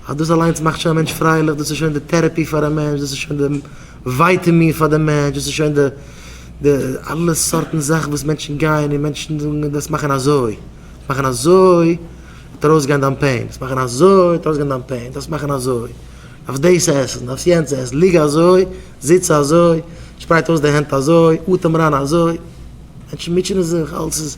אז דאס אליינס מאכט שוין א מענטש פרייליך, דאס איז שוין די טערעפי פאר א מענטש, דאס איז שוין די ווייטעמין פאר די מענטש, דאס איז שוין די די אלע סארטן זאכן וואס מענטשן גייען און מענטשן זאגן דאס מאכן אזוי, דאס מאכן אזוי וועט ארויסגיין דיין פעין, דאס מאכן אזוי וועט ארויסגיין דיין פעין, דאס מאכן אזוי, דארפסט דאס עסן, דארפסט יענץ עסן, ליג אזוי, זיץ אזוי, שפרייט אויס די הענט אזוי, אטעם אריין אזוי, מענטשן מוטשענען זיך, אלעס איז.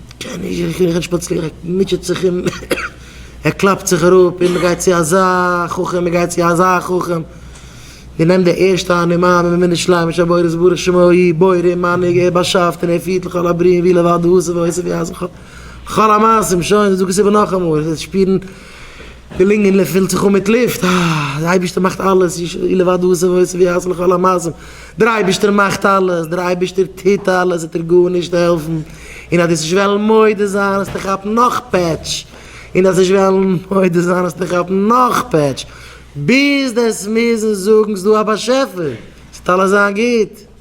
קען איך איך קען נישט שפאצירן ער מוטשעט זיך און ער קלאפט זיך אראפ און מען גייט צו אזא חכם מען גייט צו אזא חכם מען נעמט די ערשטע הנעמה מען מינעט שליימען שבורות ברוך שמו ה' בורא מנהיג ער באשאפט און ער פירט לכל הבריאים ווי לבדו עושה ועושה ווי אזעלכע כל המעשים שוין דאס איז דא כסדר נאכאמאל עס איז שפירן. די לונגען פילט זיך אן מיט לופט, אה, דער אייבערשטער מאכט אלעס, ישמעאל לבד הוא עושה ועושה ויעשה לכל המעשים, דער אייבערשטער מאכט אלעס, דער אייבערשטער טוט אלעס, וועט ער גארנישט העלפן, און אז דאס נישט וועלן מודה זיין האסטו כאפן נאך פעטש, און דאס נישט וועלן מודה זיין האסטו כאפן נאך פעטש, ביז דאס מוזן זאגן ס'דא א באשעפער, ס'וועט אלעס זיין גוט.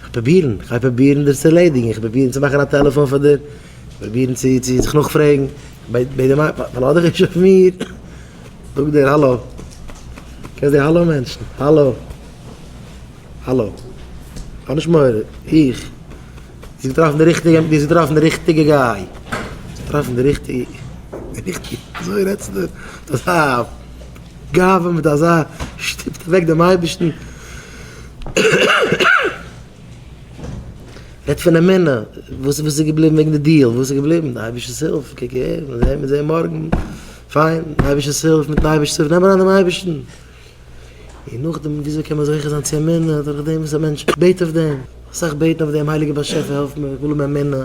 כ'וועל פרובירן, כ'גיי פרובירן דיר צו ערלעדיגן, כ'וועל פרובירן צו מאכן א טעלעפאן פאר דיר, כ'וועל פרובירן צו זיך נאכפרעגן ביי די מיידל, פארלאז דיך נישט אויף מיר, זאג דיר האלא, קענסט די האלא מענטשן, האלא, האלא, האב נישט מורא, איך, דו האסט געטראפן די ריכטיגע, דו האסט געטראפן די ריכטיגע גיי, דו האסט געטראפן די ריכטיגע, די ריכטיגע, אזוי רעדסטו מיט אזא גאווה, מיט אזא שטופט אוועק דעם אייבערשטן. רעדט פון אמונה, וואס איז געבליבן וועגן די דיעל, וואס איז געבליבן, די אייבערשטער'ס הילף, קוק אהער, מען זעט, מען זעט מארגן, פיין, די אייבערשטער'ס הילף, מיט'ן אייבערשטער'ס הילף, נעם אריין דעם אייבערשטן, און נאכדעם וויאזוי קען מען זוכה זיין צו אמונה, דורכדעם וואס א מענטש בעט אויף דעם, אסאך בעטן אויף דעם, הייליגער באשעפער העלף מיר, איך וויל האבן אמונה.